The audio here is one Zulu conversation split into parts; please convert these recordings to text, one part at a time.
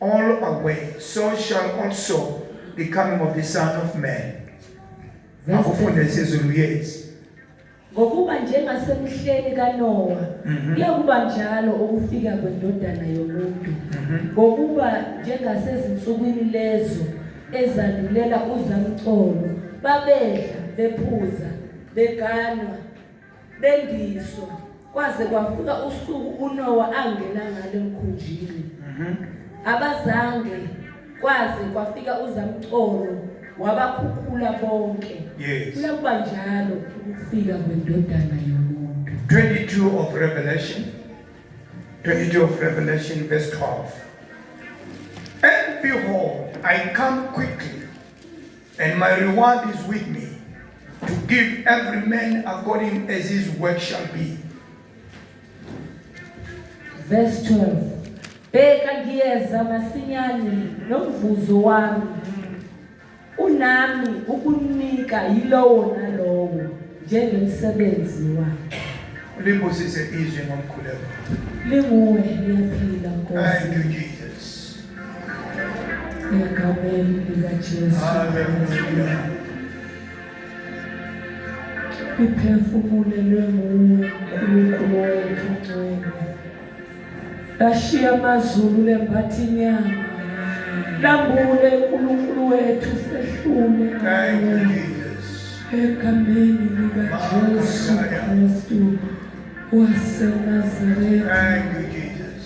all away so shall also the coming of the son of man akufunde isiZulu yes ngokuba njengasemhleni kanowa mhm. kuyakuba mm -hmm. njalo ukufika kwendodana yomuntu mhm. ngokuba mm -hmm. njengasezinsukwini lezo ezandulela uzamcolo babedla bephuza beganwa Bendiso, kwaze kwafika usuku uNowa angena ngalo emkhunjini. Mhm. Abazange kwaze kwafika uZamcolo wabakhukhula bonke. Yes. Kuyakuba njalo ukufika kwendodana yomuntu. 22 of Revelation 22 of Revelation verse 12 And behold I come quickly And my reward is with me to give every man according as his work shall be. Verse 12. Bheka ngiyeza masinyane nomvuzo wami unami ukunika yilowo nalowo njengemsebenzi wakhe. Limbusise izwi ngomkhuleko. Linguwe liyaphila Nkosi. Thank you Jesus. Egameni likaJesu. Hallelujah. Iphefumulelwe nguwe uNkulunkulu wethu ngcwele. Lashiya amazulu lembatha inyama. Lambule uNkulunkulu wethu sehlule. Thank you Jesus. Egameni likaJesu Kristu waseNazaretha. Thank you Jesus.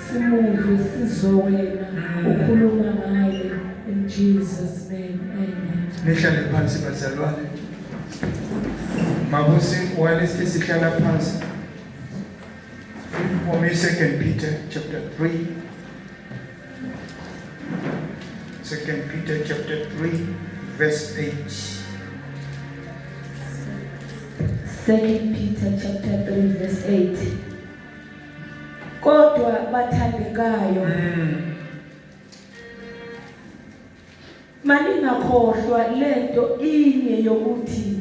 Simuzwe sizwe wena ukhuluma ngaye in Jesus name. Amen. Nihlale phansi bazalwane. Mabusi walesi sihlala phansi. For me, Second Peter chapter 3. Second Peter chapter 3, verse 8. Second Peter chapter 3, verse 8. kodwa bathandekayo mm. maningakhohlwa lento inye yokuthi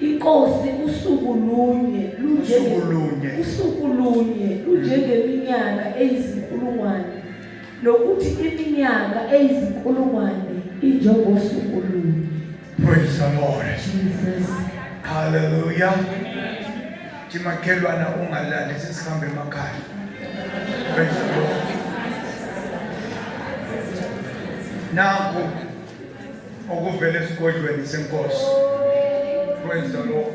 inkosi usuku lunye lunjengelunye usuku lunye lunjengeminyaka eyizinkulungwane nokuthi iminyaka eyizinkulungwane injengosuku lunye praise the lord jesus hallelujah Thi makhelwana ungalali sesihambe emakhaya. Praise the Lord. Naku okuvela esigodlweni senkosi. Praise the Lord.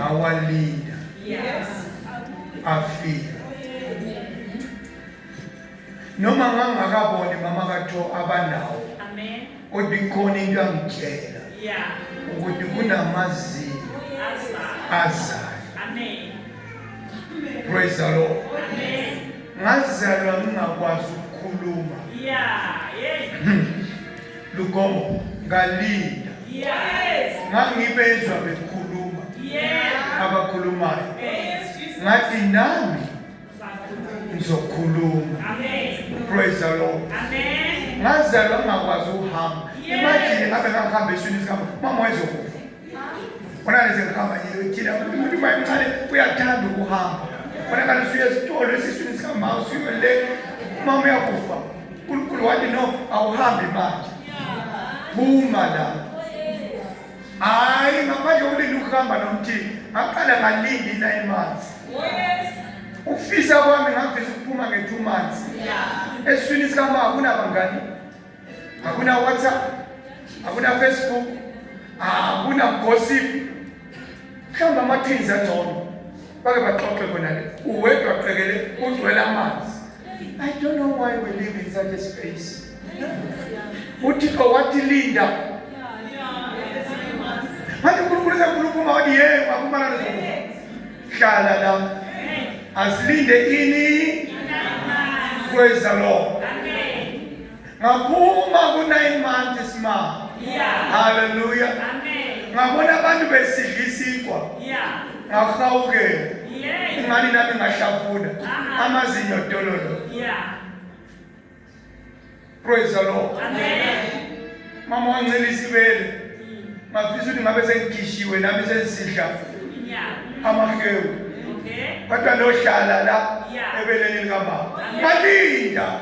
awalinda afika noma ngangakaboni mama katho abanawo kodwa ikhona into angitshela ukuthi kunamazinyo azayo praise the lord ngazalwa ngingakwazi ukukhuluma hmm. Lugomo ngalinda yes ngangibezwa bekhuluma yeah abakhulumayo yes ngathi nami ngizokhuluma amen praise the lord amen ngazalwa ngakwazi ukuhamba imagine ngabe ngahamba eswini sika mama wayezokufa Khona nje ngihamba nje thina umuntu bayimncane uyathanda ukuhamba. Khona kanti usuye esitolo esiswini sikamama usuye le mama uyakufa. uNkulunkulu wathi no awuhambi manje. Phuma la. Hayi ngaphandle ulinde ukuhamba nomthini. Ngaqala ngalindi 9 months. Ukufisa kwami ngavisa ukuphuma nge 2 months. Eswini sikamama kunabangani. hakuna WhatsApp, hakuna Facebook, hakuna gossip. Mhlawumbe amathins angcono bake baxoxe kona le uwedwa qekele ugcwele amanzi. I don't know why we live in such a space. uthixo wathi linda manje unkulunkulu esekhuluma uma wathi ye wakumana nezokufa hlala la asilinde ini praise the lord ngaphuma ku-nine months ma halleluya ngabona abantu besidla isikwa ngahawukela ingani nami ngahlafuna amazinyo dololo Praise the Lord. Amen. Mama wangincela isibele. Ngafisa ukuthi ngabe sengigishiwe nami sengisidla. Amahewu. Okay. Kodwa lo hlala la ebeleni lika mama. Malinda.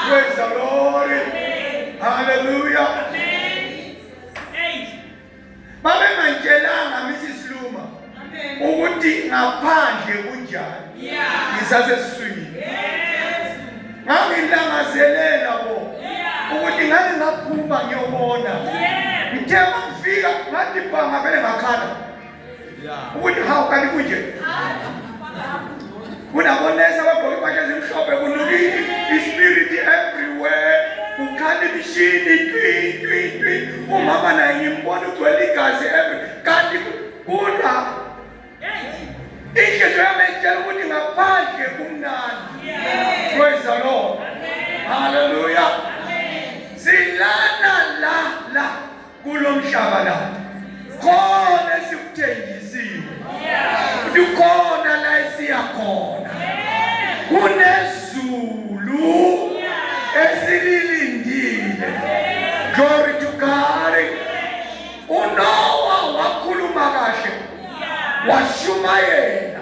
Praise the Lord. Hallelujah. babengangitshelanga Mrs Luma ukuthi ngaphandle kunjani ngisasesiswini ngangilangazelela bo ukuthi ngani ngaphuma ngiyobona ngithe mangifika ngathi bhanga vele ngakhala ukuthi hawu kanti kunje kunabonesi abagqoke impahla ezimhlophe kunukile ispirit everywhere kukhala imishini twitwitwi umama naye ngimbona ugcwele igazi every kanti kula inhliziyo yami etshela ukuthi ngaphandle kumnandi praise the lord haleluya silana la la kulomhlaba la khona esikuthenjisiwe ukhona la isiya khona kunezulu esililindile glory to God uNowa wakhuluma kahle washumayela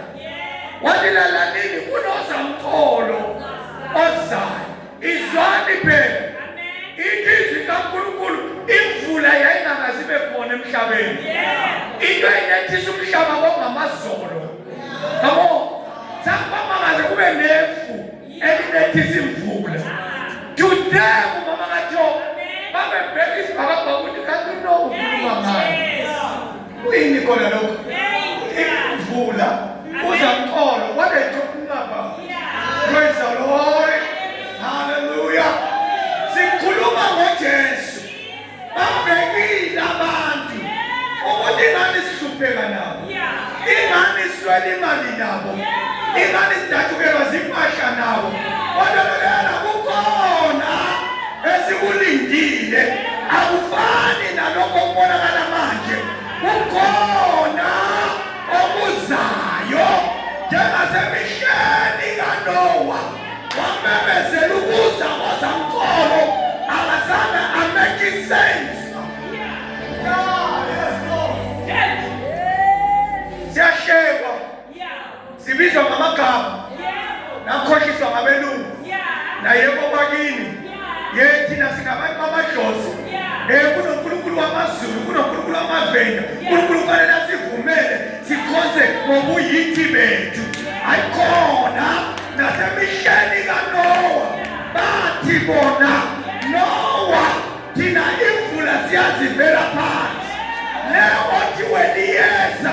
walilalanini kunozamtholo ozayo izwani phela ilizwi kaNkulunkulu imvula yayingakazi ibe khona emhlabeni into eyinethisa umhlaba kwakungamazolo yabo sakubamangaze kube nefu elinethisa imvula today umama kaJobe babebheka isibhakabhaka ukuthi kanti unokukhuluma ngani Kuyini khona lokho? Imvula uza mqolo waletha umlaba. Praise the Lord. Hallelujah. Sikhuluma ngoJesu. Babhekile abantu ukuthi ingane sihlupheka nabo. Ingane swela imali nabo. Ingane sidatshukelwa zimpahla nabo. Kodwa esikulindile akufani nalokho okubonakala manje kukhona okuzayo njengasemisheni kanowa wamemezela ukuza kwazamcolo akazange amake sense sibizwa ngamagama nakhohliswa ngabelungu naye kwabakini ye thina singabantu bamadlozi um kunonkulunkulu wamazulu kunonkulunkulu wamavenda unkulunkulu kufanele asivumele sikhonze ngobuyithi bethu ayikhona nasemihleni kanowa bathi bona nowa thina imvula siyazivela phansi leyo othi weliyeza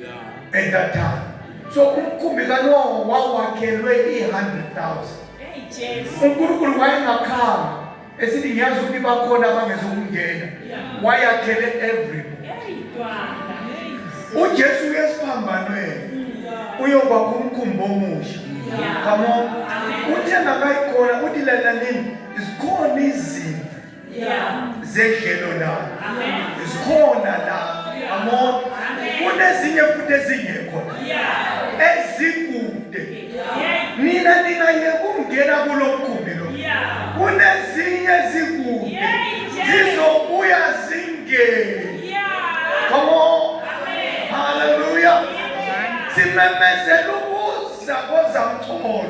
yeah. at that time so umkhumbi kanoho wawakhelwe i-100,000 unkulunkulu wayengakhanga esithi ngiyazi ukuthi bakhona abangezokungena wayakhele every ujesu uyesiphambanweni uyoba kumkhumbi omusha come on uthe ngakayikhona uthi lalalini zikhona izinto zedlelo la zikhona la amon kunezinye futhi ezingekho ezikude nina ningayeka ukungena kulo mgumbi lo kunezinye ezikude zizobuya zingeni Come on. Hallelujah. Simemezela Sakoza mcholo.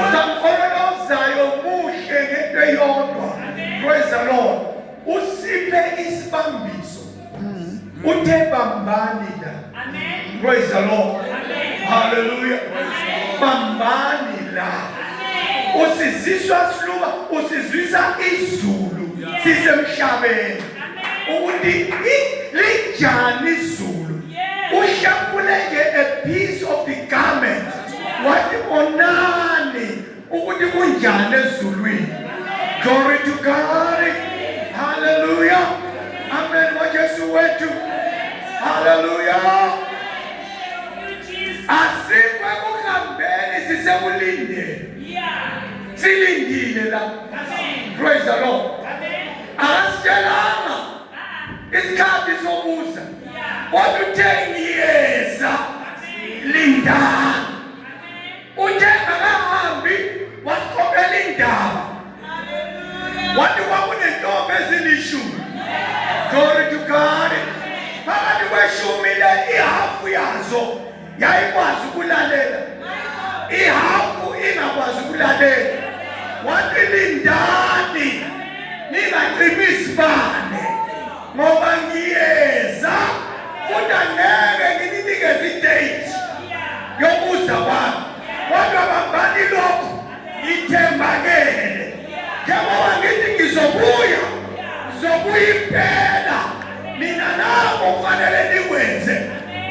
Uzakhona ozayo kuhle ngento eyodwa. Praise the Lord. Usiphe isibambiso. Mm. Uthe bambani la. Amen. Praise the Lord. Amen. Hallelujah. Amen. Bambani la. Amen. Usiziswa siluba, usizwisa izulu. Sisemhlabeni. ukuthi linjani izulu ushapule nje a piece of the garment wathi onani ukuthi kunjani ezulwini glory to god hallelujah amen wajesu wethu hallelujah asikwe kuhambeni sisekulindeni silindile la praise the lord Akasitshelanga isikhathi sokuza. Kodwa uthe ngiyeza. Linda. Uthe akahambi wasikhophela indaba. Wathi kwakunentombi ezilishumi. Glory to God. Phakathi kweshumi le ihafu yazo yayikwazi ukulalela ihafu ingakwazi ukulalela wathi lindani ningacimi izibane ngoba ngiyeza futhi angeke ngininikeze idate yokuza kwami kodwa bambani lokhu Ngithembakele. Yehova ngithi ngizobuya. Ngizobuya impela. Mina nabo kufanele nikwenze.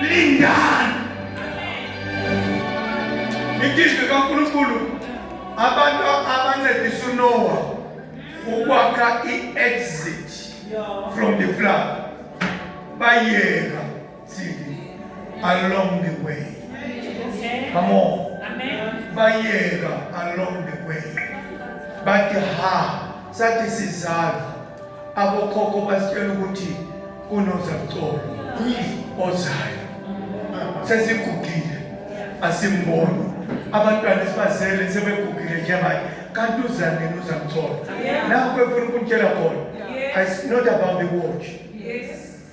Lindani. Ngizwe kaNkulunkulu abantu abancedisa uNowa ukwakha i-exit from the flood bayeka See, along the way. Come on. Bayeka along the way. Bathi ha, sathi sizalo. Abokhokho basitshela ukuthi kunozamcolo ozayo. Sesigugile asimboni. Abantwana sibazele sebegugile njengaye. Kanti uzanini uzamcolo. Nakho efuna ukutshela khona. It's not about the watch. Yes.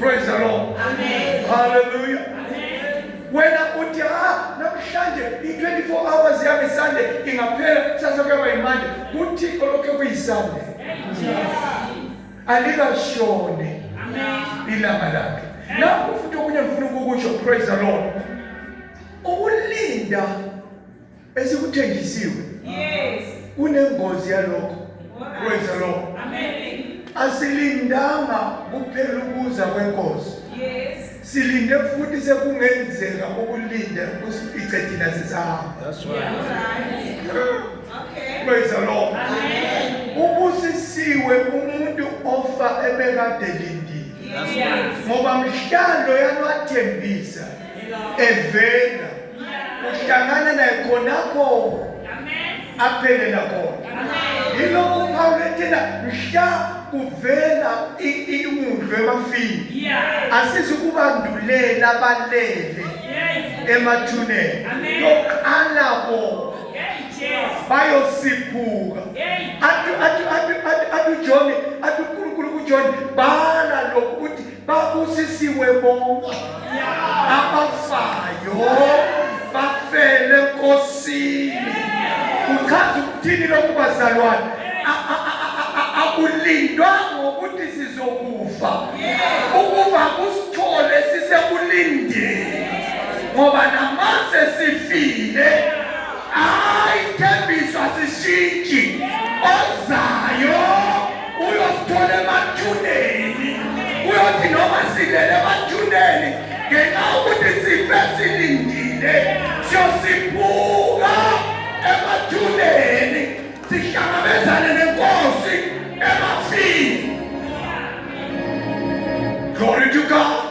Praise the Lord. Amen. Hallelujah. Wena uthi ha namhlanje i-24 hours yami Sunday ingaphela kusasa kuyaba yimanje kuthixo lokho kuyiSunday. Alikashone ilanga lakhe. Lapho futhi okunye ngifuna ukukusho praise the Lord. Ukulinda esikuthenjisiwe yes kunengozi yalokho kwenza lokho amen asilindanga kuphela ukuza kwenkosi yes silinde futhi sekungenzeka ukulinda kusifice thina sisahamba that's right okay kwenza lokho amen ubusisiwe umuntu ofa ebekade lindile ngoba mhlalo yalwathembisa evela uhlangana naye khonapho aphelela khona yilokhu uphawula ethena mhla kuvela iwundlu emafini asizukubandulela balele emathuneni yoqala bona bayosiphuka athi uJohn athi uNkulunkulu kuJohn bhala lokhu babusisiwe bonke abafayo bafele nkosini kuchaza ukuthini lokhu bazalwane akulindwa ngokuthi sizokufa ukuba kusithole sisekulindeni ngoba namase sifile ayithembiso asishintshi ozayo uyosithola emathuneni uyothi noma silele emathuneni ngenxa ukuthi sife silindile siyosiphuka emathuneni sihlangabezane nenkosi emafini glory to god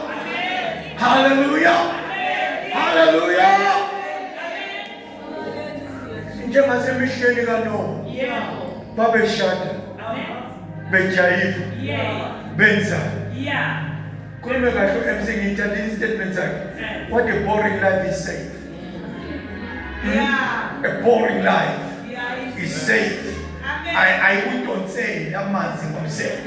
hallelujah hallelujah njengasemihleni kanoa babeshada bejayiva benza khulume kahle u-mc ngiyithanda i-statement sakhe eh. what a boring life is safe hmm? a boring life is safe ayikudonseli amanzi ngomsele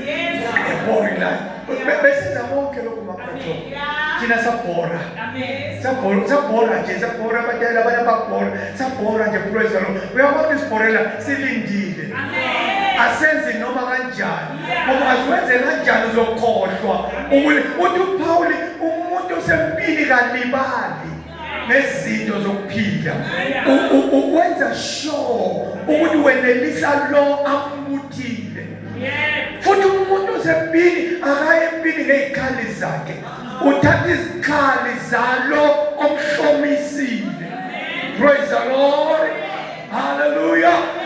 ebori layo besenza konke lokhu mabratho thina sabhora sabhora nje sabhora abadala abanye babhora sabhora nje praise the lord uyabona isibhorela silindile asenzi noma kanjani ngoba asiwenze kanjani uzokhohlwa uthi uphawuli umuntu osempini kalibali nezinto zokuphila ukwenza sure ukuthi wenelisa lo ambuthile futhi umuntu usempini akaye empini ngezikhali zakhe uthatha izikhali zalo omhlomisile praise the lord hallelujah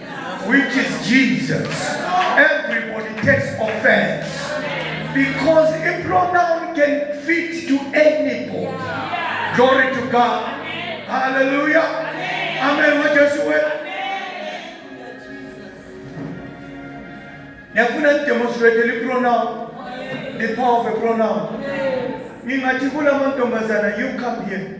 which is Jesus everybody takes offense because a pronoun can fit to anybody glory to God hallelujah amen wajesu wena niyafuna nidemonstrate lipronoun the power of a pronoun ngingathi kula mantombazana you come here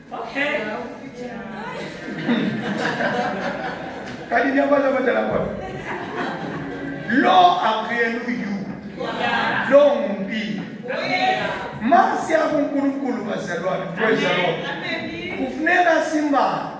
Okay. Kali ni abala badala kwa. Lo akuyena uyu. Lo ngumbi. Masi yakuNkulunkulu bazalwane. Praise the Lord. Kufuneka simbazi.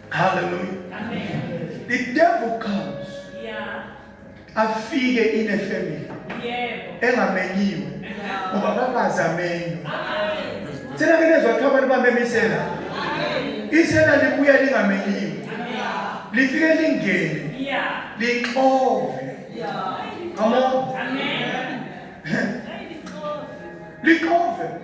Hallelujah. Amen. The devil comes. Yeah. Afike in a family. Yebo. Engamenyiwe. Ngoba bakazi amenywe. Thina ke lezwa kuthiwa abantu bamemisela. Isela libuya lingamenyiwe. Lifike lingene. Yeah. Lixove. Yeah. Come on. Amen. Lixove.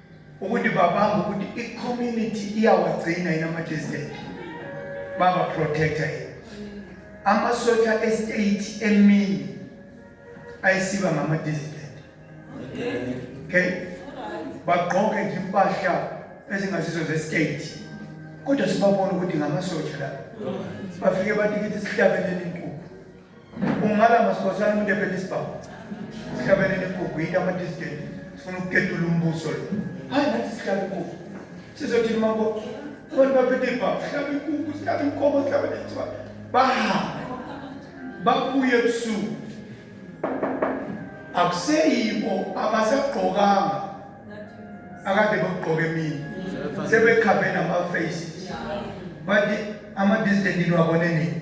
ukuthi babamba ukuthi i-community iyawagcina yini ama-distant babaprotecta yini amasotsha estate emini ayisiba ngama-dissident okay bagqoke nje impahla ezingasizo zestate kodwa sibabona ukuthi ngamasotsha la bafike bathi kithi sihlabelele inkukhu Ungala masikhosana umuntu ephela isibhamu. Sihlabene nekugwida ama distant. Sifuna ukuketula umbuso lo. Hayi nathi sihlaba inkukhu. Sizothi mabo abantu baphethe ibhamu, sihlaba inkukhu, sihlaba inkomo, sihlaba nesiba. Bahambe. Babuye ebusuku. Akuseyibo abasagqokanga akade bakugqoka emini sebekhabe nama-face bathi ama-distant niwabone nini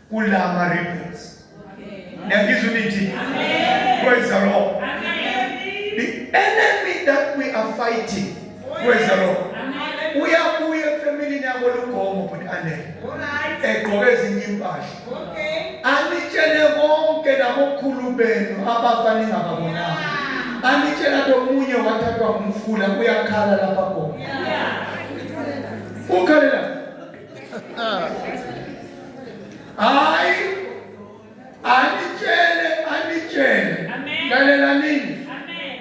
kulama ribbons niyangizwa imithi praise the lord the enemy that we are fighting praise the lord uyabuya efamilini yabo lugomo bhuti anele egqoke ezinye impahla anitshele konke nabokhulu benu abafa ningababonanga anitshela komunye wathathwa ngumfula uyakhala lapha khona ukhalela hayi anitshele anitshele lalelanini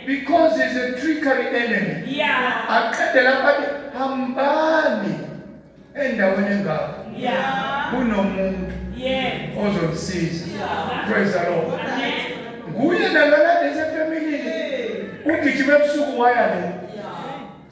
because is a trickery enemy aqede lapha hambani endaweni engako kunomuntu ozomsiza praise the lord nguye nalala lezefamilini ugijima ebusuku waya le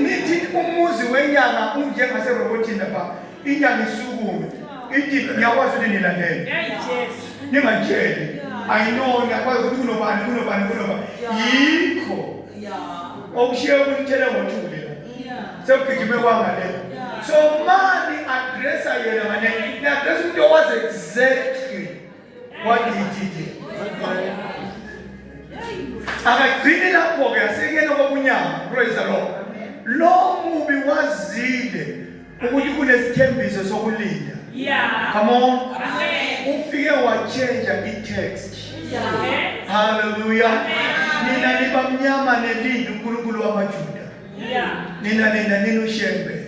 nithi umuzi wenyanga unjengaserobotini lapha inyanga isukume ithi ngiyakwazi ukuthi nilandele ningatsheli ayinoni akwazi ukuthi kunobani kunobani kunobani yikho okushiye ukunithele ngothuli la sekugijime kwangale so mani adressa yena ngane ni-adressa umuntu owazi exactly wadidide akagcini lapho-ke asekuyena kokunyama praise the lord lo mubi wazile ukuthi kunesithembiso sokulinda yeah. come on ufike watshentsha i-text haleluya nina nibamnyama nelindi unkulunkulu wamajuda nina nina nini ushembe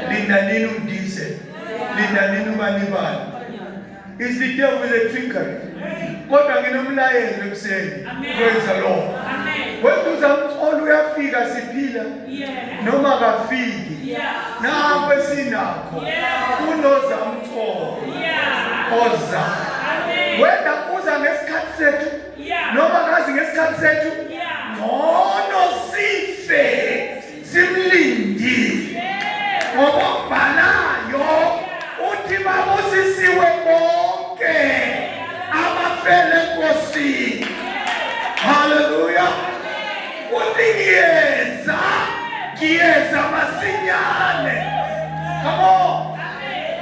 nina nini umdise nina nini ubanibani is the devil is a trickery kodwa nginomlayezo ekuseni praise the lord weduza umcolo uyafika siphila noma kafiki nakho esinakho unoza umcolo oza wenda uza ngesikhathi sethu noma ngazi ngesikhathi sethu ngcono sife simlindile ngoba obhalayo uthi babusisiwe bonke abafele enkosini haleluya uthi ngiyeza ngiyeza masinyane come on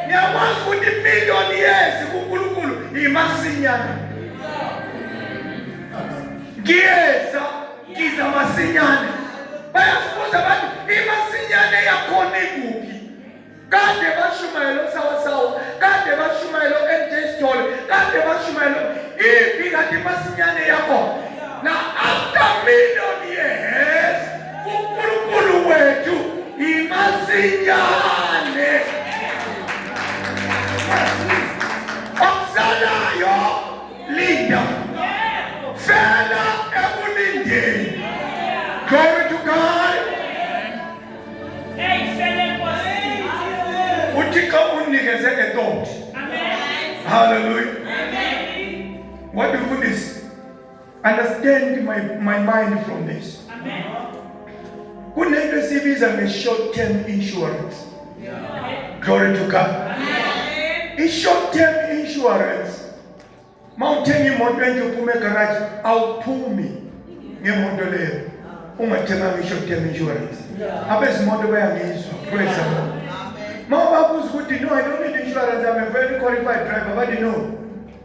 niyakwazi ukuthi imiliyoni yezi kunkulunkulu imasinyane ngiyeza ngiza masinyane bayazibuza abantu imasinyane yakhona ikuphi kade bashumayela osawasawa kade bashumayela o-nj stole kade bashumayela iphi kade imasinyane yakho na after million years uNkulunkulu wethu imasinyane okusalayo linda fela ekulindeni glory to God uthixo unikeze le thought hallelujah wadifundisa Understand my, my mind from this. Amen. Kunento esibiza nge-short term insurance. Yeah. Glory to God. Amen. I-short term insurance mawuthenga imoto enje uphume egaraji awuphumi ngemoto leyo ungathenganga i-short term insurance. Abezimoto bayangizwa. Praise the Lord. Mama babuza ukuthi no I don't need insurance I'm a very qualified driver. Bathi no.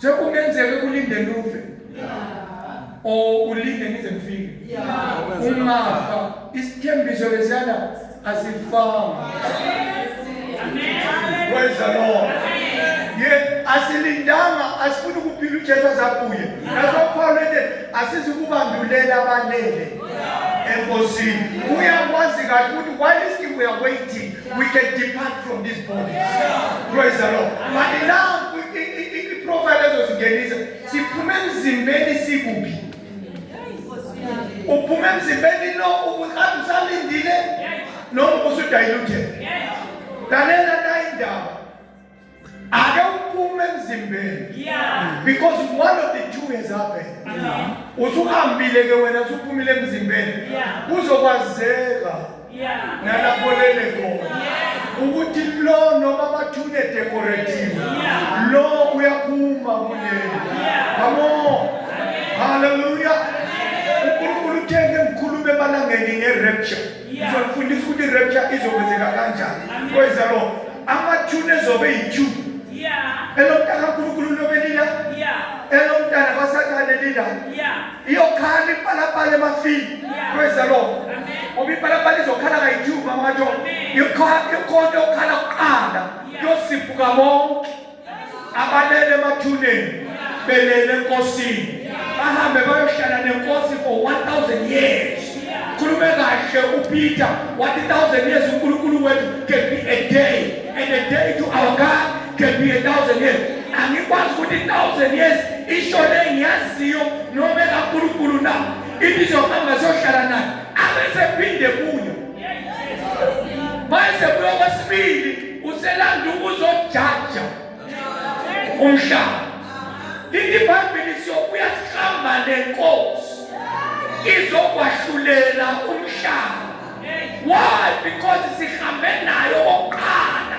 Se kungenzeka kulinde luve or ulinde ngize ngifike ungafa isithembiso lesiyana asifanga praise the lord ye asilindanga asifuna ukuphila uJesu azabuye naso Paul ende asizikubandulela abanele enkosini uyakwazi kahle ukuthi why is he we are waiting We can depart from this body. Praise the Lord. But now profile ezosingenisa siphume emzimbeni sikuphi? Uphume emzimbeni no ubuhambe usalindile noma usudiluted. Lalela nayi indaba. ake uphume emzimbeni because one of the two has happened usuhambile ke wena usuphumile emzimbeni kuzokwazeka nalapho lele khona ukuthi lo noma bathune decorative lo uyaphuma kuleli kamo haleluya unkulunkulu uthenge ngikhulume emalangeni nge-rapture ngizokufundisa ukuthi irapture izokwenzeka kanjani kweza lo amathuni ezobe yi-two elomntana nkulunkulu lobe lila elomntana kwasathane lila iyokhala ipalapala emafini kweza lo ngoba ipalapala izokhala kayi-two mama kajo ikhonto yokukhala kuqala yosiphuka bonke abalele emathuneni belele enkosini bahambe bayohlala nenkosi for 1000 years khulume kahle upeter wathi 1000 years unkulunkulu wethu can be a day and a day to our god can be a thousand years angikwazi ukuthi 1000 years isho le ngiyaziyo noma ekankulunkulu na ibizohamba zohlala nayo abesephinde kuyo manje kuyokwesibili uselanda ukuzojaja umhlaba lithi ibhayibheli siyobuya sihamba nenkosi izokwahlulela umhlaba why because sihambe nayo okokuqala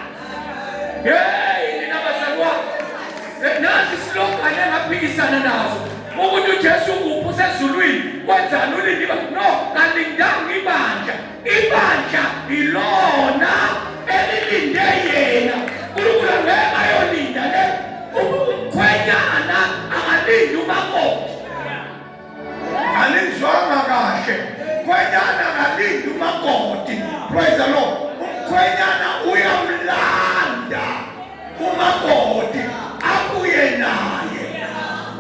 yeyi nina bazalwane nazi silogane engaphikisana nazo ukuthi ujesu ukuphi usezulwini kwenzani ulindiba no kalindanga ibandla Ibandla ilona elilinde yena. Unkulunkulu angeke ayolinda le umkhwenyana akalindi umakoti. Anizwanga kahle. Mkhwenyana akalindi umakoti. Praise the Lord. Umkhwenyana uyamlanda. umakoti abuye naye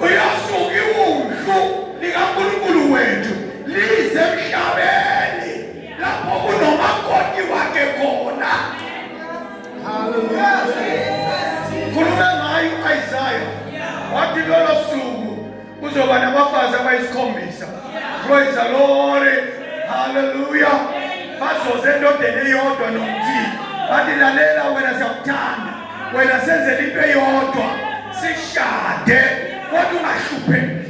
uyosuka iwundlu likankulunkulu wethu lize emhlabeni lapho kunomakoti wakhe khona khulume ngayo u-isaya wathi lolo suku Kuzoba nabafazi abayisikhombisa. Praise the Lord. Hallelujah. Bazoze endodeni eyodwa nomthini. Bathi lalela wena siyakuthanda. Wena senzela into eyodwa. Sishade kodwa ungahlupheki.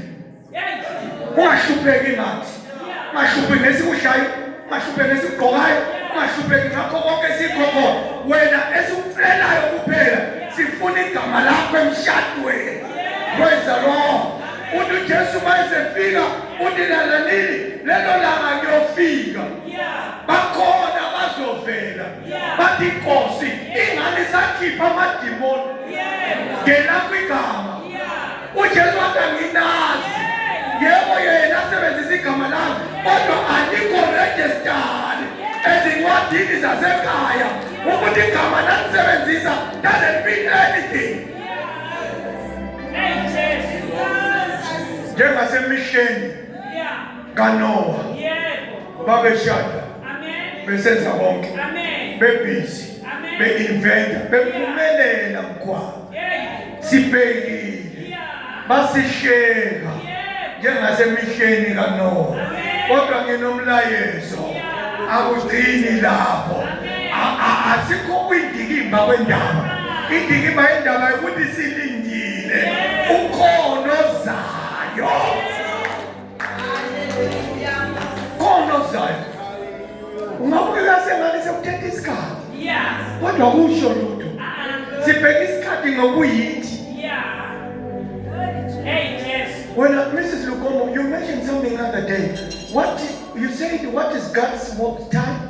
Ungahlupheki ngathi. ungahlupheki ngesikudlayo ungahlupheki ngesikugqokayo ungahlupheki ngakho konke esikho khona wena esikucelayo kuphela sifuna igama lakho emshadweni praise the lord uthi ujesu uma esefika uthi lalanini lelo langa kuyofika bakhona bazovela bathi inkosi ingane sakhipha amadimoni ngena kwigama ujesu wathi anginazi yebo yena asebenzisa igama lami kodwa alikho rejistari ezincwadini zasekhaya ukuthi igama lalisebenzisa doesn't mean anything njengasemihleni kanowa babeshada besenza konke bebhizi be-inventa bephumelela mkhwabo sibhekile basisheka njengasemihleni kanowa kodwa nginomlayezo akugcini lapho asikho kwindikimba kwendaba indikimba yendaba yokuthi silindile ukhona ozayo khona okuzayo ungabukeka sengane sekuthetha isikhathi kodwa kusho lutho uh-uh. sibheke isikhathi ngokuyithi When uh, Mrs. Lukomo, you mentioned something the other day. What you said, what is God's time?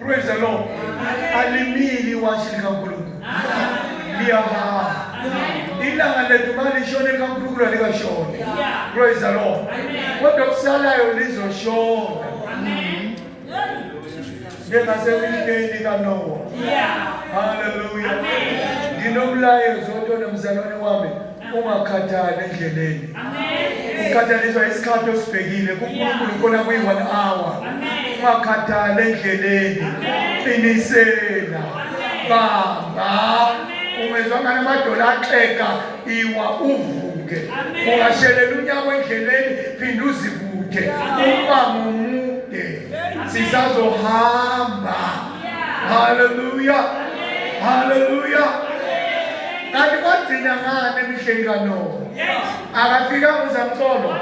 Praise the Lord. Alimili iwashi likaNkulunkulu. Liyahamba. Ilanga lethu balishone likaNkulunkulu alikashoni. Praise the Lord. Kodwa kusalayo lizoshona. Njengasemiliteni kaNowa. Hallelujah. Nginomlayezo otona mzalwane wami. ungakhathali endleleni ukhathaliswa isikhathi osibhekile kunkulunkulu kona kuyi-one hour ungakhathali endleleni qinisela bamba ungezwa ngani amadola axega iwa uvuke ungashelela unyaka endleleni phinde uzibude uba ngomude sisazohamba Hallelujah. Hallelujah. Kanti kwagcina ngani emihleni kaNowa? Akafika uZamcolo.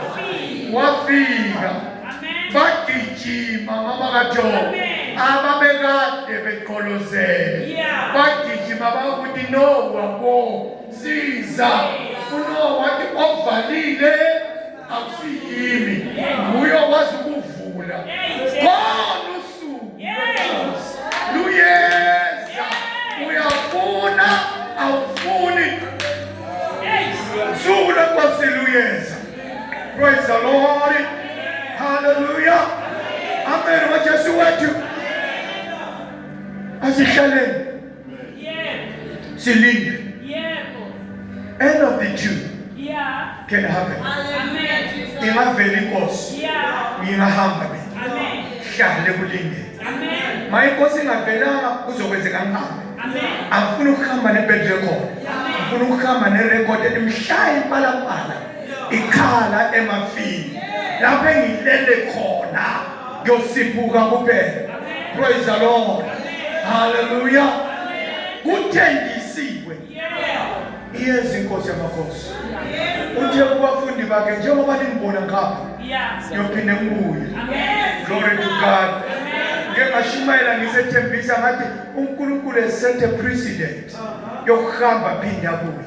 Wafika. Bagijima mama kaJobe. Ababekade beqolozele. Bagijima bakuthi Nowa bo siza. Unowa wathi ovalile akusiyimi nguye okwazi ukuvula khona usuku luyeza uyafuna awufuni suku lenkosi luyeza praise the lord hallelujah amen wajesu wethu asihlaleni silinde end of the tune can happen ingavela inkosi ngingahamba mina hlale kulinde ma inkosi ingavelanga kuzokwenzeka ngihambe angifuni ukuhamba nebedrekhona ngifuna ukuhamba nerekhodi elimhlaya impalapala ikhala emafini lapho engilele khona kuyosiphuka kuphela praise the lord haleluya kuthenjisiwe iyeza inkosi yamakhosi uthe kubafundi bakhe njengoba nimbona ngapha niyophinde ngibuye glory to god ngeke ngashumayela ngisethembisa ngathi unkulunkulu esethe president yokuhamba phinde abuye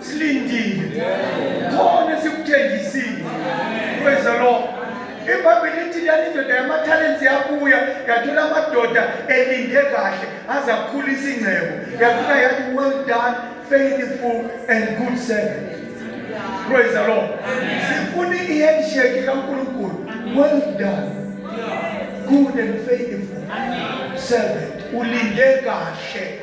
silindile khona sikuthengisile praise the lord ibhayibheli lithi lani indoda yamathalenti yabuya yathola amadoda elinde kahle aze akhulisa ingcebo yafika yathi well done faithful and good servant praise the lord sifuna i-handshake kankulunkulu well done good and faithful servant ulinde kahle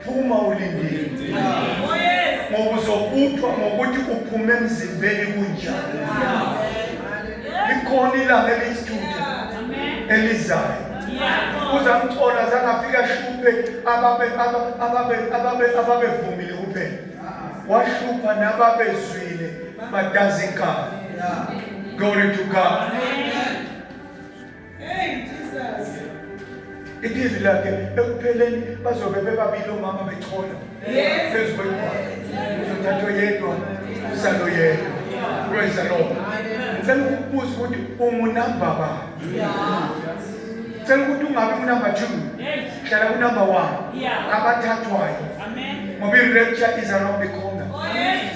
phuma ulindile ngoba uzokuthwa ngokuthi uphume emzimbeni kunjani likhona ilanga elisithuda elizayo uzamthola zangafika shuphe ababevumile kuphela wahlupha nababezwile badazi ikhaya glory to god Amen. Idizi lakhe ekupheleni bazobe bebabili omama bechola phezu kwenkwazi uzothathwa yedwa usalo yedwa praise the lord ngicela ukubuza ukuthi ungunamba ba ngicela ukuthi ungabi unumber two hlala unumber one abathathwayo ngoba i-rapture is around the corner oh,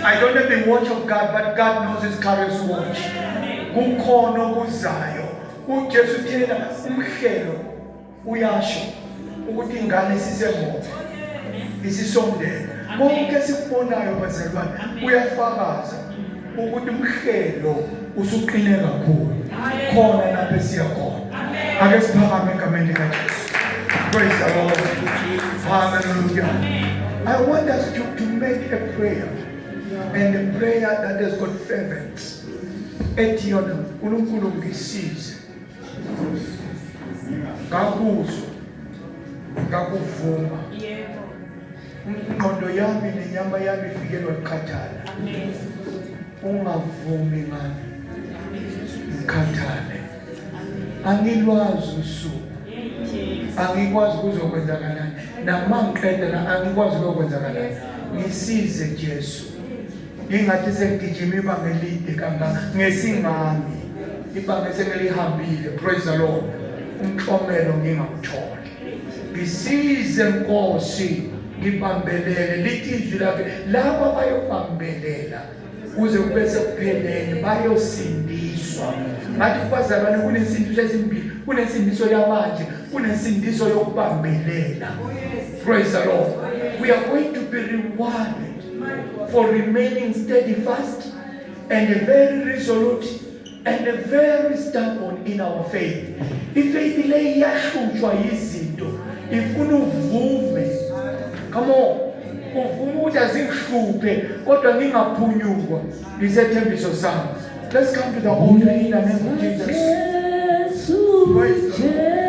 i don't have the watch of god but god knows his carriers watch kukhona okuzayo uJesu thina umhlelo uyasho ukuthi ingane isisemuva isisondela konke sikubonayo bazalwane kuyafakaza ukuthi umhlelo usuqine kakhulu khona lapho esiya khona ake siphakame egameni likajesu praise the lord hallelujah i want us to, to make a prayer and a prayer that has got fervence ethi yona uNkulunkulu ngisize ngakuzwa ngakuvuma yebo ingqondo yami nenyama yami ifikelwa ukukhathala ungavumi ngami ngikhathale angilwazi usuku angikwazi kuzokwenzakalani namangiqeda la angikwazi kuzokwenzakalani ngisize Jesu Ingathi sengigijima ibanga elide kangaka ngesingami ibanga esengelihambile praise the Lord umklomelo ngingawutholi ngisize nkosi ngibambelele lithi izwi lakhe laba bayobambelela kuze kube sekupheleni bayosindiswa ngathi kubazalwane kunesindiso esimbili kunesindiso yamanje kunesindiso yokubambelela praise the lord we are going to be rewarded for remaining steadfast and very resolute and very stubborn in our faith. Ifaith le iyahlutshwa yizinto ifuna uvume. Come on. Uvume ukuthi azingihluphe kodwa ngingaphunyukwa ngisethembiso sami. Let's come to the altar in the name of Jesus. Praise the Lord.